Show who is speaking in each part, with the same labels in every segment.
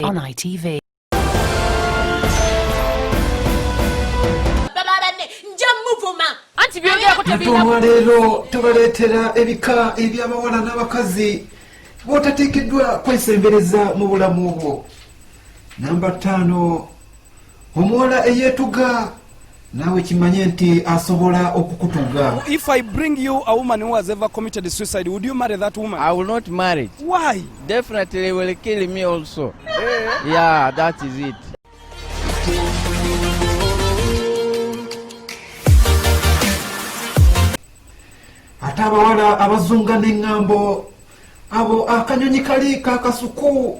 Speaker 1: On ITV.
Speaker 2: Mutuma leero tubaleetera ebika eby'abawala n'abakazi b'otateekeddwa kwesembereza mu bulamu bwo. Namba ttaano omuwala eyetuga naawe kimanye nti asobola okukutuga if i bring you
Speaker 3: a woman who has ever committed suicide would you marry that woman i will not marry
Speaker 4: why
Speaker 3: definitely will
Speaker 4: kill me also eh? yeah that is it
Speaker 2: ate abawala abazunga n'eŋŋambo abo akanyonyi kali kakasuku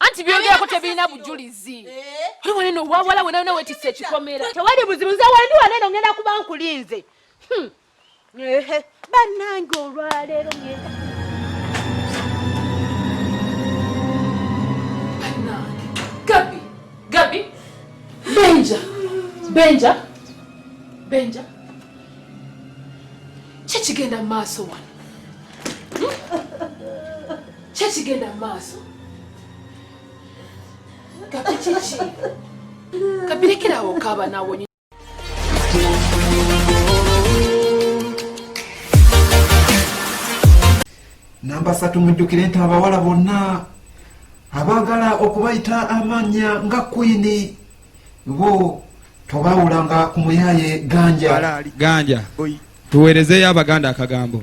Speaker 5: anti byogerako
Speaker 6: tebirina bujulizi eh? oli wali nowawala wena wena wetisa ekikomera tewali buzibu nze wendi
Speaker 5: wano eno ngenda kuba nkulinze hmm. bannange olwaleero ngenda
Speaker 6: Benja, Benja, Benja. Kiki kigenda mu maaso wano? Hmm? Kye kigenda mu maaso. Kapi kiki? Kapi lekerawo
Speaker 2: kaaba nawe namba satu mujjukire nti abawala bonna abaagala okubayita amannya nga kwini bo tobawulanga ku muyaye ganja ganja tuweerezeeyo
Speaker 7: abaganda akagambo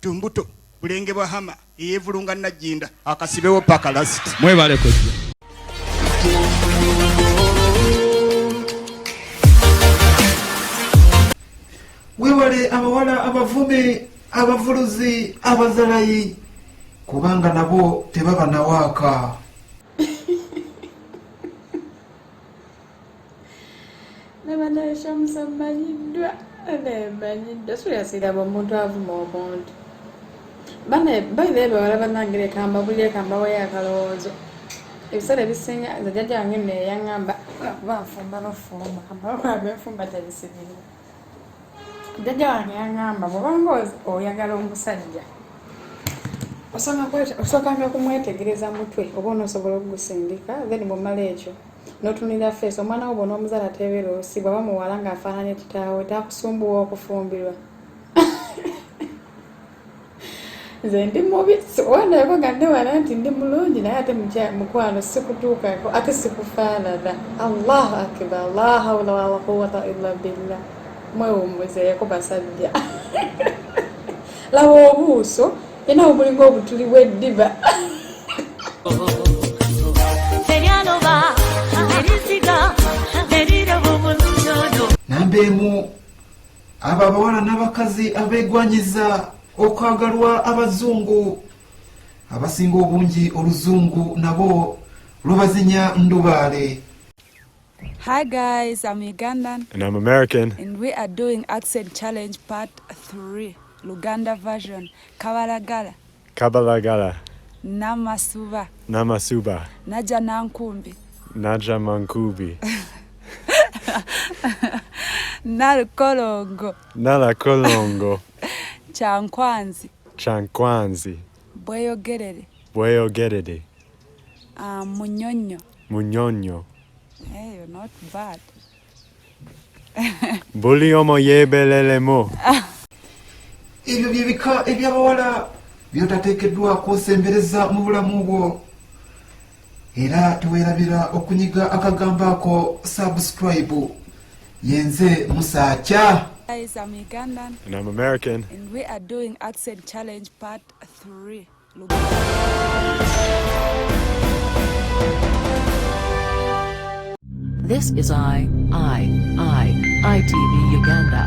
Speaker 3: Tumbuto, Bulenge bwa Hama, Eyevulunga Najjinda, Akasibewo paka last. Mwebale kujja.
Speaker 2: Wewale abawala abavumi abavuluzi abazalayi kubanga nabo tebaba nawaaka.
Speaker 8: nabanaye shamusa mmanyiddwa naye mmanyiddwa suyasiraba omuntu avuma omuntu bane bainaye bawala banange lekamba buli ekamba wayo akalowoozo ebiseera ebisinga nze jajja wange neyaŋamba kuba nfumba nofumba amawanga enfumba tebisibirwa jajja wange yaŋamba bwobanga oyagala omusajja osookanga kumwetegereza mutwe oba onosobola okugusindika then bwomala ekyo notunira feesi omwana wo bona omuzala tebeera olusi bwaba muwala nga afaananye kitaawe takusumbuwa okufumbirwa nze ndi mubi wandaeko nga newala nti ndi mulungi naye ate mukwano sikutuukako ate sikufaanana allahu akibar la haula wala quwata illa billah mwewummuzeeko basajja laba obuuso Ena obulinga obutuli bw'eddiba.
Speaker 2: Namba emu abo abawala n'abakazi abeegwanyiza okwagalwa abazungu abasinga obungi oluzungu nabo lubazinya ndubaale.
Speaker 9: Hi guys, I'm Ugandan. And I'm American.
Speaker 10: And we are doing
Speaker 9: accent challenge part 3, Luganda version. Kabalagala. Kabalagala. Namasuba. Namasuba. Naja Nankumbi. Naja
Speaker 10: Mankubi. Nalakolongo. Nalakolongo. Chankwanzi. Chankwanzi. Bweyogerere. Bweyogerere. Um, munyonyo. Munyonyo. Hey, you're
Speaker 9: not bad.
Speaker 10: Buli omo yebelelemo.
Speaker 2: Ebyo byebika eby'abawala by'otateekeddwako osembereza mu bulamu bwo era teweerabira okunyiga akagambo ako subscribe yenze musaakya Guys, I'm
Speaker 9: Ugandan. And I'm American. And we are doing
Speaker 10: accent
Speaker 9: challenge part 3.
Speaker 1: This is I, I, I, ITV Uganda.